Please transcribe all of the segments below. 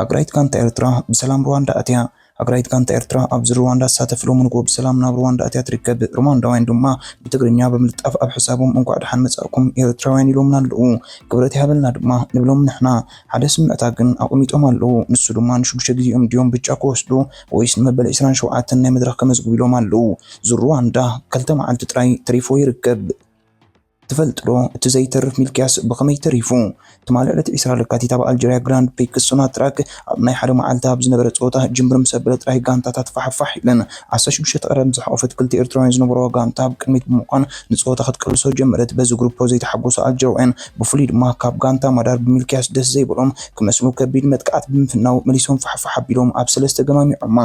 ሃገራዊት ጋንታ ኤርትራ ብሰላም ሩዋንዳ ኣትያ። ሃገራዊት ጋንታ ኤርትራ ኣብዚ ሩዋንዳ ትሳተፍ ሎሚ ንግሆ ብሰላም ናብ ሩዋንዳ ኣትያ ትርከብ። ሩዋንዳውያን ድማ ብትግርኛ ብምልጣፍ ኣብ ሕሳቦም እንኳዕ ደሓን መጻእኩም ኤርትራውያን ኢሎምና ኣለዉ። ክብረት ይሃበልና ድማ ንብሎም ንሕና። ሓደ ስምዕታ ግን ኣቐሚጦም ኣለዉ። ንሱ ድማ ንሽዱሽተ ግዜኦም ድዮም ብጫ ክወስዱ ወይስ ንመበል ዕስራን ሸውዓተን ናይ መድረኽ ከመዝግቡ ኢሎም ኣለዉ። ዙር ሩዋንዳ ክልተ መዓልቲ ጥራይ ተሪፍዎ ይርከብ። ትፈልጥዶ እቲ ዘይተርፍ ሚልክያስ ብኸመይ ተሪፉ? ትማሊ ዕለት ዕስራ ለካቲት ኣብ ኣልጀርያ ግራንድ ፕሪክስ ሶናትራክ ኣብ ናይ ሓደ መዓልቲ ኣብ ዝነበረ ጸወታ ጅምብር ምስ ኣበለ ጥራይ ጋንታታት ፋሕፋሕ ኢለን። ዓሰርተ ሽዱሽተ ተቐዳደምቲ ዝሓቖፈት ክልተ ኤርትራውያን ዝነበሩዋ ጋንታ ኣብ ቅድሚት ብምዃን ንጸወታ ክትቅልሶ ጀመረት። በዚ ግሩፖ ዘይተሓጎሱ ኣልጀርውያን ብፍሉይ ድማ ካብ ጋንታ ማዳር ብሚልክያስ ደስ ዘይበሎም ክመስሉ ከቢድ መጥቃዕቲ ብምፍናው መሊሶም ፋሕፋሕ ኣቢሎም ኣብ ሰለስተ ገማሚዖማ።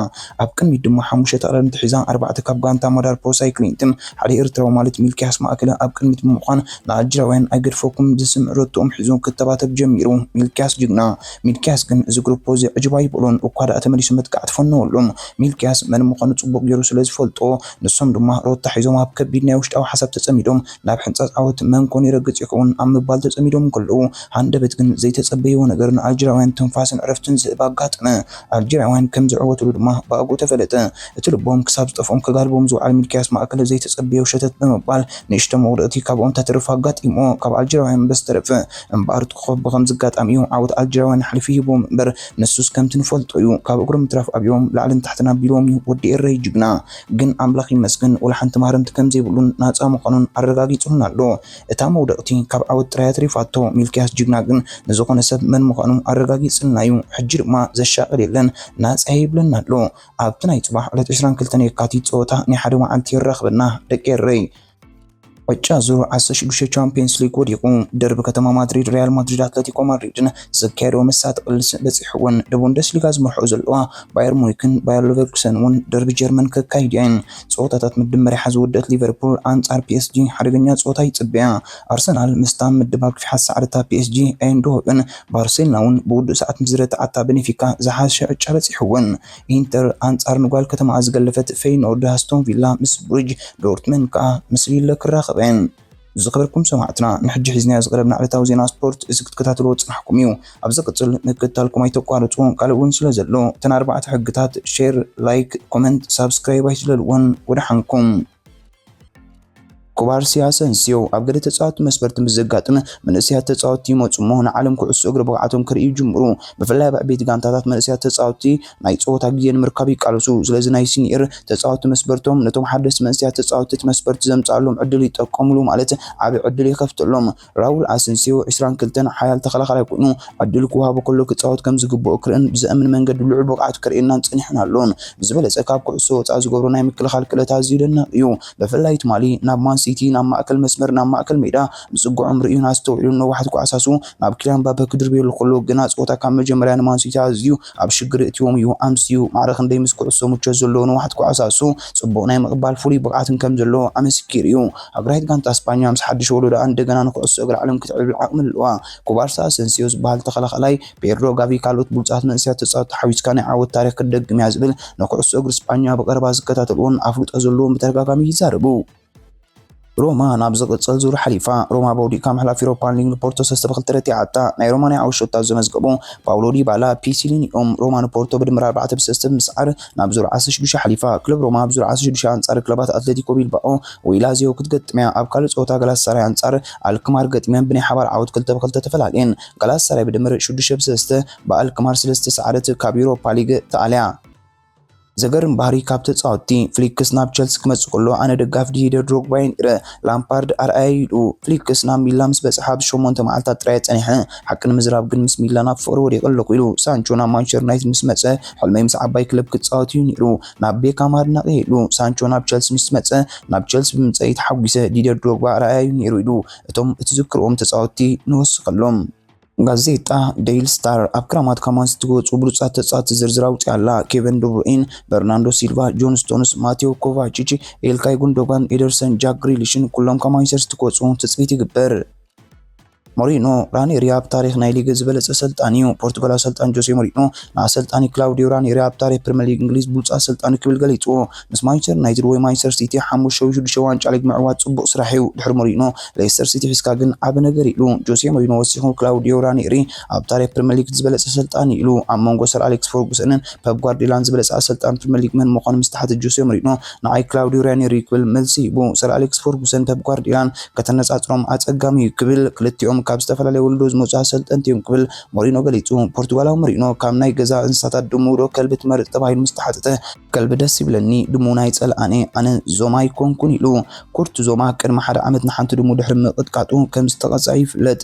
ኣብ ቅድሚት ድማ ሓሙሽተ ተቐዳደምቲ ሒዛ ኣርባዕተ ካብ ጋንታ ማዳር ፕሮ ሳይክሊንትን ሓደ ኤርትራዊ ማለት ሚልክያስ ማእከለ ኣብ ቅድሚት ብምዃን ንኣልጅራውያን ኣይገድፈኩምን ዝስምዕ ሮትቶኦም ሒዙ ክተባተብ ጀሚሩ ሚልክያስ ጅግና ሚልክያስ ግን እዚ ግሩፖዚ ዕጅብ ኣይበሎን እኳ ደኣ ተመሊሱ መጥቃዕቲ ፈነወሉ ሚልክያስ መን ምዃኑ ጽቡቕ ጌሩ ስለ ዝፈልጦ ንሶም ድማ ሮታ ሒዞም ኣብ ከቢድ ናይ ውሽጣዊ ሓሳብ ተጸሚዶም ናብ ሕንጻጽ ዓወት መን ኮን ይረግጽ ይኸውን ኣብ ምባል ተጸሚዶም እንከለዉ ሃንደበት ግን ዘይተጸበይዎ ነገር ንኣልጅራውያን ትንፋስን ዕረፍትን ዝህብ ኣጋጠመ ኣልጀርያውያን ከም ዝዕወትሉ ድማ ብኣግኡ ተፈለጠ። እቲ ልቦም ክሳብ ዝጠፍኦም ከጋልቦም ዝውዓል ሚልክያስ ማእከለ ዘይተጸበዮ ሸተት ብምባል ንእሽቶ መጉደእቲ ካብኦም ተትርፍ ኣጋጢምዎ ካብ ኣልጀርያውያን በዝተረፈ እምበኣር እቲ ኮኾብ ብኸምዚ ኣጋጣሚ'ዩ ዓወት ኣልጀርያውያን ሓሊፉ ሂብዎም እምበር ንሱስ ከምቲ ንፈልጦ'ዩ ካብ እግሮም ምትራፍ ኣብዮም ላዕልን ታሕትን ኣቢልዎም'ዩ ወዲ ኤረይ ጅግና ግን ኣምላኽ ይመስገን ወላሓንቲ ማህረምቲ ከምዘይብሉን ናጻ ምዃኑን ኣረጋጊጽሉና ኣሎ እታ መውደቕቲ ካብ ዓወት ጥራይ ኣትሪፋቶ። ሚልክያስ ጅግና ግን ንዝኾነ ሰብ መን ምዃኑ ኣረጋጊጽልና እዩ። ሕጂ ድማ ዘሻቕል የለን ናጻ እየ ይብለና ኣሎ። ኣብቲ ናይ ጽባሕ ዕለት ዕስራን ክልተን የካቲት ጸወታ ናይ ሓደ መዓልቲ የራኽበና ደቂ ኤረይ። ዕጫ ዙር ዓሰርተ ሽዱሽተ ቻምፕየንስ ሊግ ወዲቑ። ደርቢ ከተማ ማድሪድ ሪያል ማድሪድ ኣትለቲኮ ማድሪድን ዘካየድኦ መሳጢ ቅልስ በጺሕወን። ንቡንደስሊጋ ዝመርሕኦ ዘለዋ ባየር ሙኒክን ባየር ሌቨርኩሰን እውን ደርቢ ጀርመን ከካይዳ'የን። ጸወታታት ምድመሪሓ ዝወደእት ሊቨርፑል ኣንጻር ፒኤስጂ ሓደገኛ ጸወታ ይጽበያ። ኣርሰናል ምስታ ምድብ ኣብ ሸሓት ሰዓት እታ ፒኤስጂ ኣየንድሆቨን ባርሴሎና'ውን ብውዱእ ሰዓት ምስ ዝረትዓታ በኔፊካ ዝሓሸ ዕጫ በጺሕወን። ኢንተር ኣንጻር ንጓል ከተማኣ ዝገለፈት ፈይኖርድ ኣስቶንቪላ ምስ ብሩጅ ዶርትመንድ ከኣ ምስ ሊለ ክራኸበ። ዝኸበርኩም ሰማዕትና ንሕጂ ሒዝናዮ ዝቐረብና ዕለታዊ ዜና ስፖርት እዚ ክትከታተልዎ ዝጸናሕኩም እዩ። ኣብ ዝቕጽል ምክትታልኩም ኣይተቋርጹ ካልእ ውን ስለ ዘሎ እተን ኣርባዕተ ሕግታት ሼር ላይክ ኮመንት ሳብስክራይብ ኣይትለልወን ወደሓንኩም። ኩባርሲ ኣሰንስዮ ኣብ ገለ ተጻወቲ መስመርቲ ምስ ዘጋጥም መንእሰያት ተጻወቲ ይመጹ እሞ ንዓለም ኩዕሶ እግሪ ብቕዓቶም ከርእዩ ይጅምሩ። ብፍላይ ኣብ ዕቤቲ ጋንታታት መንእሰያት ተጻወቲ ናይ ጸወታ ግዜ ንምርካብ ይቃለሱ። ስለዚ ናይ ሲንየር ተጻወትቲ መስበርቶም ነቶም ሓደስቲ መንእሰያት ተጻወትቲ እቲ መስበርቲ ዘምጽኣሎም ዕድል ይጠቀምሉ ማለት ዓቢ ዕድል ይኸፍተሎም። ራውል ኣሰንሲዮ፣ ዕስራን ክልተን፣ ሓያል ተኸላኻላይ ኮይኑ ዕድል ክወሃቦ ከሎ ክጻወት ከም ዝግብኦ ክርእን ብዘእምን መንገዲ ልዑል ብቕዓት ከርእየናን ጸኒሑን ኣሎን። ብዝበለጸ ካብ ኩዕሶ ወጻኢ ዝገብሮ ናይ ምክልኻል ክእለት ኣዝዩ ደናቕ እዩ። ብፍላይ ትማሊ ናብ ማን ሲቲ ናብ ማእከል መስመር ናብ ማእከል ሜዳ ምጽግዖም ርእዩን ኣስተውዒሉን ነዋሕቲ ኳዕሳሱ ናብ ኪልያን ምባፐ ክድርብየሉ ከሎ ግና ጸወታ ካብ መጀመርያ ንማን ሲቲ ኣዝዩ ኣብ ሽግር የእትዎም እዩ ኣምስዩ። ማዕረ ክንደይ ምስ ኩዕሶ ምቾት ዘለዎ ንዋሕት ኳዕሳሱ ጽቡቕ ናይ ምቕባል ፍሉይ ብቕዓትን ከም ዘለዎ ኣመስኪሩ እዩ። ሃገራዊት ጋንታ ስጳኛ ምስ ሓድሽ ወለዶኣ እንደገና ንኩዕሶ እግሪ ዓለም ክትዕብልብል ዓቕሚ ኣለዋ። ኩባርሳ ኣሰንስዮ ዝበሃል ተኸላኻላይ፣ ፔድሮ፣ ጋቪ ካልኦት ብሉጻት መንእሰያት ተጻወትቲ ሓዊስካ ናይ ዓወት ታሪኽ ክትደግም እያ ዝብል ንኩዕሶ እግሪ ስጳኛ ብቐረባ ዝከታተልዎን ኣፍልጦ ዘለዎን ብተደጋጋሚ ይዛረቡ። ሮማ ናብ ዝቕጽል ዙር ሓሊፋ። ሮማ በውዲእካ ምሕላፍ ዩሮፓ ሊግ ንፖርቶ ሰለስተ ብክልተ ረቲዓታ። ናይ ሮማ ናይ ዓወት ሸቶታት ዘመዝገቡ ፓውሎ ዲባላ፣ ፒሲሊን እዮም። ሮማ ንፖርቶ ብድምር ኣርባዕተ ብሰለስተ ብምስዓር ናብ ዙር ዓሰርተ ሽዱሽተ ሓሊፋ። ክለብ ሮማ ኣብ ዙር ዓሰርተ ሽዱሽተ ኣንጻር ክለባት ኣትለቲኮ ቢልባኦ ወይ ላዚዮ ክትገጥም እያ። ኣብ ካልእ ጸወታ ጋላታሳራይ ኣንጻር ኣልክማር ገጢመን ብናይ ሓባር ዓወት ክልተ ብክልተ ተፈላልየን። ጋላታሳራይ ብድምር ሽዱሽተ ብሰለስተ ብኣልክማር ስለዝተሰዓረት ካብ ዩሮፓ ሊግ ተኣልያ። ዘገርም ባህሪ ካብ ተጻወትቲ ፍሊክስ ናብ ቸልሲ ክመጽእ ከሎ ኣነ ደጋፊ ዲሂደር ድሮግባ እየ ነይረ። ላምፓርድ ኣርኣያ እዩ ኢሉ። ፍሊክስ ናብ ሚላን ምስ በጽሐ ኣብ ሸሞንተ መዓልታት ጥራይ እየ ጸኒሐ። ሓቂ ንምዝራብ ግን ምስ ሚላን ኣብ ፍቕሪ ወዲቐ ኣለኹ ኢሉ። ሳንቾ ናብ ማንቸስተር ዩናይትድ ምስ መጸ ሕልመይ ምስ ዓባይ ክለብ ክጻወት እዩ ነይሩ። ናብ ቤካም ኣድናቒ እየ ኢሉ። ሳንቾ ናብ ቸልሲ ምስ መጸ ናብ ቸልሲ ብምምጸእይ ተሓጒሰ። ዲሂደር ድሮግባ ኣርኣያ እዩ ነይሩ ኢሉ። እቶም እትዝክርዎም ተጻወትቲ ንወስኸሎም። ጋዜጣ ዴይሊ ስታር ኣብ ክራማት ካማንስ እትወፁ ብሉፃት ተፃወቲ ዝርዝር ኣውፅኣ ኣላ። ኬቨን ዱብሩኢን፣ በርናንዶ ሲልቫ፣ ጆን ስቶንስ፣ ማቴዎ ኮቫቺች፣ ኤልካይ ጉንዶጋን፣ ኤደርሰን፣ ጃክ ግሪሊሽን ኩሎም ካብ ማንቸስተር ሲቲ ክወፁ ትፅቢት ይግበር። ሞሪኖ ራኔሪ ኣብ ታሪክ ናይ ሊግ ዝበለፀ ኣሰልጣኒ እዩ። ፖርቱጋላዊ ኣሰልጣኒ ጆሴ ሞሪኖ ንኣሰልጣኒ ክላውዲዮ ራኔሪ ኣብ ታሪክ ፕሪምየር ሊግ እንግሊዝ ብሉፅ ኣሰልጣኒ ክብል ገሊፁዎ። ምስ ማንቸስተር ዩናይትድ ወይ ማንቸስተር ሲቲ ሓሙሽተ ወይ ሽዱሽተ ዋንጫ ሊግ ምዕዋት ጽቡቕ ስራሕ እዩ፣ ድሕሪ ሞሪኖ ሌስተር ሲቲ ሒዝካ ግን ዓቢ ነገር ኢሉ ጆሴ ሞሪኖ ወሲኹ ክላውዲዮ ራኒሪ ኣብ ታሪኽ ፕሪመር ሊግ እቲ ዝበለጸ ኣሰልጣኒ እዩ ኢሉ ኣብ መንጎ ሰር ኣሌክስ ፈርጉሰንን ፐፕ ጓርዲዮላን ዝበለጸ ኣሰልጣኒ ፕሪመር ሊግ መን ምዃኑ ምስ ተሓተ ጆሴ ሞሪኖ ንዓይ ክላውዲዮ ራኒሪ እዩ ክብል መልሲ ሂቡ ሰር ኣሌክስ ፈርጉሰን ፐፕ ጓርዲዮላን ከተነጻጽሮም ኣጸጋሚ እዩ ክብል ክልቲኦም ካብ ዝተፈላለየ ወለዶ ዝመጹ ኣሰልጠንቲ እዮም ክብል ሞሪኖ ገሊጹ ፖርቱጋላዊ ሞሪኖ ካብ ናይ ገዛ እንስሳታት ድሙ ዶ ከልቢ ትመርጽ ተባሂሉ ምስ ተሓተተ ከልቢ ደስ ይብለኒ ድሙ ናይ ጸልኣነ ኣነ ዞማ ኣይኮንኩን ኢሉ። ኩርት ዞማ ቅድሚ ሓደ ዓመት ንሓንቲ ድሙ ድሕሪ ምቕጥቃጡ ከም ዝተቐጽዐ ይፍለጥ።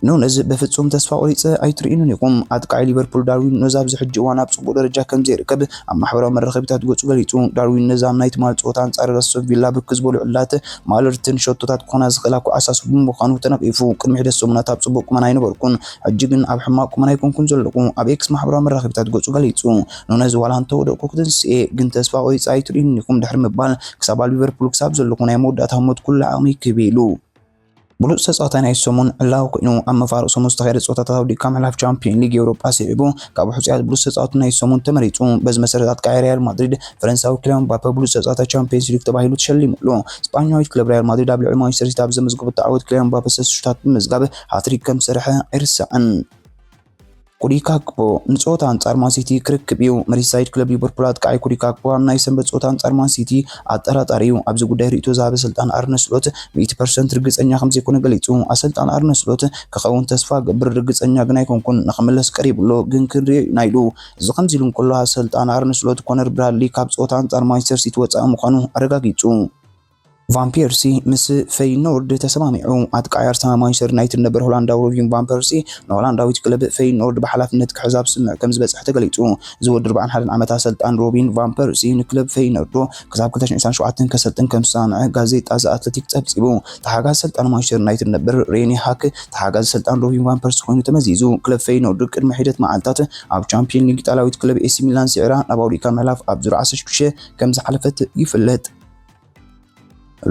ኑነዝ በፍጹም ተስፋ ቆሪጸ ኣይትርእዩንን ኢኹም። ኣጥቃዒ ሊቨርፑል ዳርዊን ኑነዝ ኣብዚ ሕጂ እዋን ኣብ ጽቡቕ ደረጃ ከም ዘይርከብ ኣብ ማሕበራዊ መራኸቢታት ገጹ ገሊጹ። ዳርዊን ኑነዝ ኣብ ናይ ትማሊ ጸወታ ኣንጻር ኣስቶን ቪላ ብርክት ዝበሉ ዕላላት ማለርትን ሸቶታት ክኾና ዝኽእላ ኳዓሳሱ ብምዃኑ ተነቒፉ። ቅድሚ ሒደት ሰሙናት ኣብ ጽቡቕ ቁመና ኣይነበርኩን፣ ሕጂ ግን ኣብ ሕማቕ ቁመና ኣይኮንኩን ዘለኹ፣ ኣብ ኤክስ ማሕበራዊ መራኸቢታት ገጹ ገሊጹ። ኑነዝ ዋላ እንተወደቕኩ ክትንስኤ ግን ተስፋ ቆሪፀ ኣይትርእዩኒ ኢኹም ድሕሪ ምባል ክሳብ ኣብ ሊቨርፑል ክሳብ ዘለኹ ናይ መወዳእታ ህሞት ኩሉ ዓቕመይ ክህብ ኢሉ። ብሉጽ ተጻዋታይ ናይቲ ሰሙን ዕላዊ ኮይኑ ኣብ መፋርቕ ሰሙን ዝተኻየደ ጸወታታት ኣውዲቕካ ምሕላፍ ቻምፕዮን ሊግ ኤውሮጳ ስዒቡ ካብ ሕጹያት ብሉጽ ተጻወቲ ናይቲ ሰሙን ተመሪጹ። በዚ መሰረት ኣጥቃዒ ሪያል ማድሪድ ፈረንሳዊ ኪልያን ምባፐ ብሉጽ ተጻዋታይ ቻምፕዮንስ ሊግ ተባሂሉ ተሸሊሙ ኣሎ። ስጳኛዊት ክለብ ሪያል ማድሪድ ኣብ ልዕሊ ማንቸስተር ሲቲ ኣብ ዘመዝገበቶ ዓወት ኪልያን ምባፐ ሰለስተ ሽቶታት ብምምዝጋብ ሃትሪክ ከምዝሰርሐ ኣይርሳዕን። ኮዲ ካክፖ ንፀወታ ኣንጻር ማንሲቲ ክርክብ እዩ። መሪሳይድ ክለብ ሊቨርፑል ኣጥቃዓይ ኮዲ ካክፖ ኣብ ናይ ሰንበት ፀወታ ኣንጻር ማንሲቲ ኣጠራጣሪ እዩ። ኣብዚ ጉዳይ ርእይቶ ዝሃበ ኣሰልጣኒ ኣርነ ስሎት ሚእቲ ፐርሰንት ርግጸኛ ከምዘይኮነ ገሊጹ። ኣሰልጣኒ ኣርነ ስሎት ክኸውን ተስፋ እገብር ርግጸኛ ግን ኣይኮንኩን፣ ንኽምለስ ቀሪቡ ኣሎ ግን ክንሪኦ ኢና ኢሉ። እዚ ከምዚ ኢሉ እንከሎ ኣሰልጣኒ ኣርነ ስሎት ኮነር ብራድሊ ካብ ፀወታ ኣንጻር ማንቸስተር ሲቲ ወጻኢ ምዃኑ ኣረጋጊጹ። ቫን ፔርሲ ምስ ፈይኖርድ ተሰማሚዑ። ኣጥቃዒ ኣርሰናል፣ ማንቸስተር ዩናይትድ ነበር ሆላንዳዊ ሮቪን ቫን ፐርሲ ንሆላንዳዊት ክለብ ፈይኖርድ ብሓላፍነት ክሕዝ ኣብ ስምምዕ ከምዝበጽሐ ተገሊጹ። እዚ ወዲ ኣርብዓን ሓደን ዓመት ኣሰልጣን ሮቢን ቫን ፐርሲ ንክለብ ፈይኖርድ ክሳብ ክልተ ሽሕን ዕስራን ሸውዓተን ከሰልጥን ከምዝተሰማምዐ ጋዜጣ ዘ ኣትለቲክ ጸብጺቡ። ተሓጋዚ ኣሰልጣን ማንቸስተር ዩናይትድ ነበር ሬኒ ሃክ ተሓጋዚ ኣሰልጣን ሮቪን ቫን ፐርሲ ኮይኑ ተመዚዙ። ክለብ ፈይኖርድ ቅድሚ ሒደት መዓልታት ኣብ ቻምፕዮን ሊግ ኢጣልያዊት ክለብ ኤሲ ሚላን ስዒራ ናብ ኣውሮፓ ምሕላፍ ኣብ ዙር ዓሰርተ ሽዱሽተ ከምዝሓለፈት ይፍለጥ።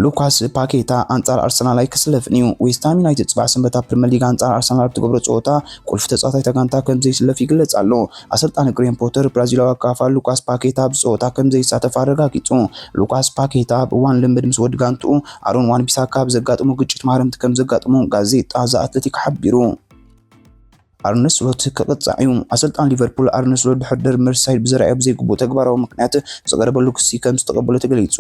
ሉካስ ፓኬታ ኣንጻር ኣርሰናል ኣይክስለፍን እዩ። ዌስትሃም ዩናይትድ ጽባሕ ሰንበት ኣብ ፕሪምየር ሊግ ኣንጻር ኣርሰናል ኣብ ትገብሮ ጸወታ ቁልፊ ተጻዋታይ እታ ጋንታ ከም ዘይስለፍ ይግለጽ ኣሎ። ኣሰልጣኒ ግሬም ፖተር ብራዚላዊ ኣካፋ ሉካስ ፓኬታ ኣብዚ ጸወታ ከም ዘይሳተፍ ኣረጋጊጹ። ሉካስ ፓኬታ ኣብ እዋን ልምምድ ምስ ወዲ ጋንትኡ ኣሮን ዋን ቢሳካ ብዘጋጠሞ ግጭት ማህረምቲ ከም ዘጋጠሞ ጋዜጣ ዘ ኣትለቲክ ሓቢሩ። ኣርነ ስሎት ክቕጻዕ እዩ። ኣሰልጣኒ ሊቨርፑል ኣርነ ስሎት ድሕሪ ደርቢ መርሲሳይድ ብዘርኣዮ ብዘይግቡእ ተግባራዊ ምኽንያት ዝቐረበሉ ክሲ ከም ዝተቐበሎ ተገሊጹ።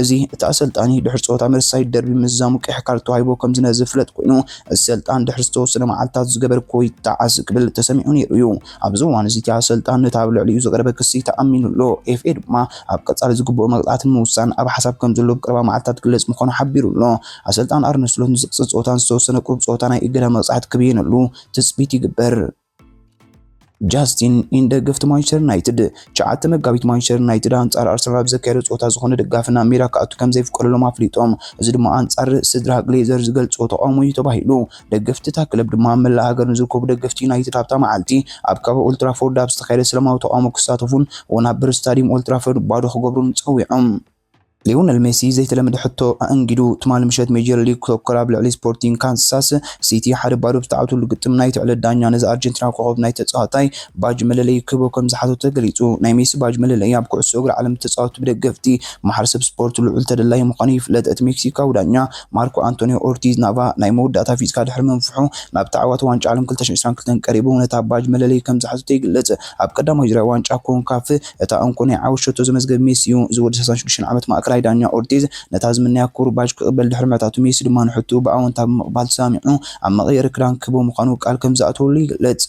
እዚ እቲ ኣሰልጣኒ ድሕሪ ጸወታ መርሲሳይድ ደርቢ ምዝዛሙ ቀይሕ ካርድ ተዋሂቦ ከም ዝነበረ ዝፍለጥ ኮይኑ፣ እዚ ሰልጣን ድሕሪ ዝተወሰነ መዓልታት ዝገበርክዎ ይጠዓስ ክብል ተሰሚዑ ነይሩ እዩ። ኣብዚ እዋን እዚ እቲ ኣሰልጣን ነቲ ኣብ ልዕሊኡ ዝቐረበ ክሲ ተኣሚኑ ኣሎ። ኤፍኤ ድማ ኣብ ቀጻሊ ዝግብኦ መቕጻዕቲ ንምውሳን ኣብ ሓሳብ ከም ዘሎ ኣብ ቀረባ መዓልታት ክግለጽ ምዃኑ ሓቢሩ ኣሎ። ኣሰልጣን ኣርነ ስሎት ንዝቕጽል ጸወታን ዝተወሰነ ቁሩብ ጸወታ ናይ እገዳ መቕጻዕቲ ክብይነሉ ትጽቢት ይግበር። ጃስቲን ኢን ደገፍቲ ማንቸስተር ዩናይትድ ሸዓተ መጋቢት ማንቸስተር ዩናይትድ ኣንጻር ኣርሰናል ኣብ ዘካየዶ ጸወታ ዝኾነ ደጋፊ ናብ ሜዳ ክኣቱ ከም ዘይፍቀደሎም ኣፍሊጦም እዚ ድማ ኣንጻር ስድራ ግሌዘር ዝገልጾ ተቃውሞ እዩ ተባሂሉ ደገፍቲ እታ ክለብ ድማ ኣብ መላእ ሃገር ንዝርከቡ ደገፍቲ ዩናይትድ ኣብታ መዓልቲ ኣብ ከባቢ ኦልትራፎርድ ኣብ ዝተካየደ ሰላማዊ ተቃውሞ ክሳተፉን ውን ኣብ ብር ስታዲየም ኦልትራፎርድ ባዶ ክገብሩን ጸዊዖም ሊዮነል ሜሲ ዘይተለመደ ሕቶ ኣኣንጊዱ፣ ትማሊ ምሸት ሜጀር ሊግ ሶከር ኣብ ልዕሊ ስፖርቲንግ ካንሳስ ሲቲ ሓደ ባዶ ብዝተዓወተሉ ግጥም ናይቲ ዕለት ዳኛ ነዚ ኣርጀንቲናዊ ኮኾብ ናይ ተጻዋታይ ባጅ መለለዪ ክህቦ ከምዝሓቶ ተገሊጹ። ናይ ሜሲ ባጅ መለለዪ ኣብ ኩዕሶ እግሪ ዓለም ብተጻወትቲ ብደገፍቲ ማሕረሰብ ስፖርት ልዑል ተደላዪ ምዃኑ ይፍለጥ። እቲ ሜክሲካዊ ዳኛ ማርኮ ኣንቶንዮ ኦርቲዝ ናቫ ናይ መወዳእታ ፊዝካ ድሕሪ ምንፍሑ ናብ ተዓዋቲ ዋንጫ ዓለም ክልተ ሽሕን ዕስራን ክልተን ቀሪቡ ነታ ባጅ መለለዪ ከምዝሓዘቶ ይግለጽ። ኣብ ቀዳማይ ዙርያ ዋንጫ ኮንካፍ እታ እንኮ ናይ ዓወት ሸቶ ዘመዝገበ ሜሲ'ዩ ዝብል ሰሳን ሽዱሽተን ዓመት ማእከላይ ዳኛ ኦርቲዝ፣ ነታ ዝምነያ ክቡር ባጅ ክቕበል ድሕሪ ምሕታቱ ሜሲ ድማ ንሕቶኡ ብኣወንታ ብምቕባል ተሰማሚዑ ኣብ መቐየሪ ክዳን ክህቦ ምዃኑ ቃል ከምዝኣተወሉ ይግለጽ።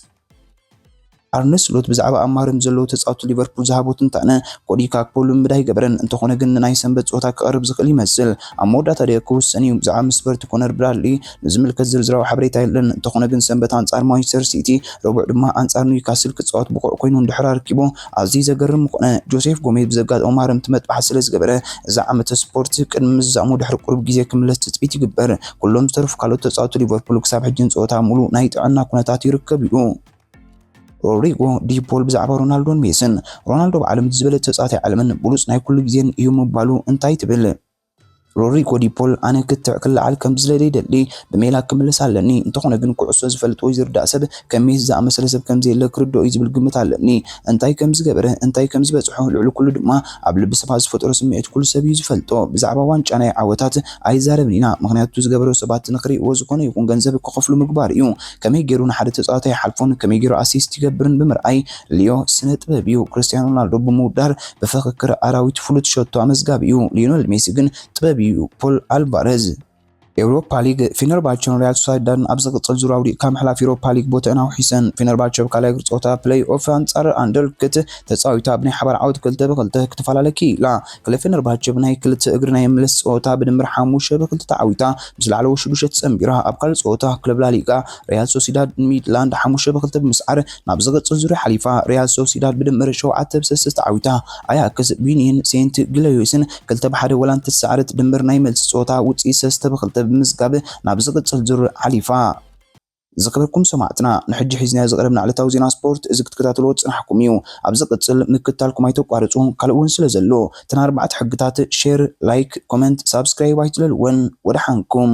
ኣርነ ስሎት ብዛዕባ ኣብ ማርያም ንዘለዉ ተጻወትቲ ሊቨርፑል ዝሃቦ ትንታነ፣ ኮዲ ጋክፖ ልምምድ ኣይገበረን፣ እንተዀነ ግን ንናይ ሰንበት ጸወታ ክቐርብ ዝኽእል ይመስል፣ ኣብ መወዳእታ ድየ ክውሰን'ዩ፣ ብዛዕባ ምስ በርቲ ኮነር ብራድሊ፣ ንዝምልከት ዝርዝራዊ ሓበሬታ የለን፣ እንተኾነ ግን ሰንበት ኣንጻር ማንቸስተር ሲቲ፣ ረቡዕ ድማ ኣንጻር ኒውካስል ክጻወት ብቑዕ ኮይኑ እንድሕር ኣረኪቡ ኣዝዩ ዘገርም ምኾነ። ጆሴፍ ጎሜዝ ብዘጋጠሞ ማረምቲ መጥባሕቲ ስለዝገበረ እዚ ዓመተ ስፖርት ቅድሚ ምዛሙ ድሕሪ ቁሩብ ግዜ ክምለስ ትጽቢት ይግበር። ኩሎም ዝተረፉ ካልኦት ተጻወቲ ሊቨርፑል ክሳብ ሕጂ ንጸወታ ኣብ ምሉእ ናይ ጥዕና ኩነታት ይርከብ እዩ። ሮድሪጎ ዲ ፖል ብዛዕባ ሮናልዶን ሜስን፣ ሮናልዶ ብዓለም እቲ ዝበለጸ ተጻዋታይ ዓለምን ብሉጽ ናይ ኩሉ ግዜን እዩ ምባሉ እንታይ ትብል? ሮድሪጎ ዲ ፖል ኣነ ክትዕ ክለዓል ከም ዝደሊ ይደሊ ብሜላ ክምለስ ኣለኒ እንተኾነ ግን ኩዕሶ ዝፈልጥ ወይ ዝርዳእ ሰብ ከም ሜሲ ዝኣመሰለ ሰብ ከም ዘየለ ክርድኦ እዩ ዝብል ግምት ኣለኒ እንታይ ከም ዝገበረ እንታይ ከም ዝበጽሖ ልዕሊ ኩሉ ድማ ኣብ ልቢ ሰባት ዝፈጠሮ ስምዒት ኩሉ ሰብ እዩ ዝፈልጦ ብዛዕባ ዋንጫ ናይ ዓወታት ኣይዛረብን ኢና ምኽንያቱ ዝገበሮ ሰባት ንኽሪእዎ ዝኾነ ይኹን ገንዘብ ክኸፍሉ ምግባር እዩ ከመይ ገይሩ ንሓደ ተጻዋቲ ኣይሓልፎን ከመይ ገይሩ ኣሲስት ይገብርን ብምርኣይ ልዮ ስነ ጥበብ እዩ ክርስትያኖ ሮናልዶ ብምውዳር ብፍክክር ኣራዊት ፍሉጥ ሸቶ ኣመዝጋቢ'ዩ ሊዮነል ሜሲ ግን ጥበብ'ዩ ፖል ኣልቫረዝ። ኤውሮፓ ሊግ፣ ፌነርባቸን ሪያል ሶሳይዳድን ኣብ ዝቕጽል ዙር ኣውዲቕ ካብ ምሕላፍ ዩሮፓ ሊግ ቦትኣን ኣውሒሰን። ፌነርባቸ ኣብ ካልኣይ እግሪ ጸወታ ፕለይ ኦፍ ኣንጻር ኣንደርልክት ተጻዊታ ብናይ ሓባር ዓወት ክልተ ብ ክልተ ክትፈላለ ክኢላ። ክለብ ፌነርባቸ ብናይ ክልተ እግሪ ናይ ምምልስ ጸወታ ብድምር ሓሙሽተ ብ ክልተ ተዓዊታ ምስ ላዕለዎት ሽዱሽተ ተጸንቢራ። ኣብ ካልእ ጸወታ ክለብ ላሊጋ ሪያል ሶሲዳድ ንሚድላንድ ሓሙሽተ ብ ክልተ ብምስዓር ናብ ዝቕጽል ዙርያ ሓሊፋ፣ ሪያል ሶሲዳድ ብድምር ሸውዓተ ብ ሰስት ተዓዊታ፣ ኣያክስ ብዩንየን ሴንት ግሎዮስን ክልተ ብ ሓደ ወላ እንተተሳዕረት፣ ድምር ናይ መልሲ ጸወታ ውጽኢት ሰስተ ብ ክልተ ብምምዝጋብ ናብ ዝቕጽል ዙር ሓሊፋ። ዝከበርኩም ሰማዕትና ንሕጂ ሒዝናዮ ዝቀረብና ዕለታዊ ዜና ስፖርት እዚ ክትከታተልዎ ዝጸናሕኩም እዩ ኣብ ዝቅጽል ምክትታልኩም ኣይተቋርጹ ካልእ ውን ስለ ዘሎ እተን ኣርባዕተ ሕግታት ሼር ላይክ ኮመንት ሳብስክራይብ ኣይትለልወን ወደሓንኩም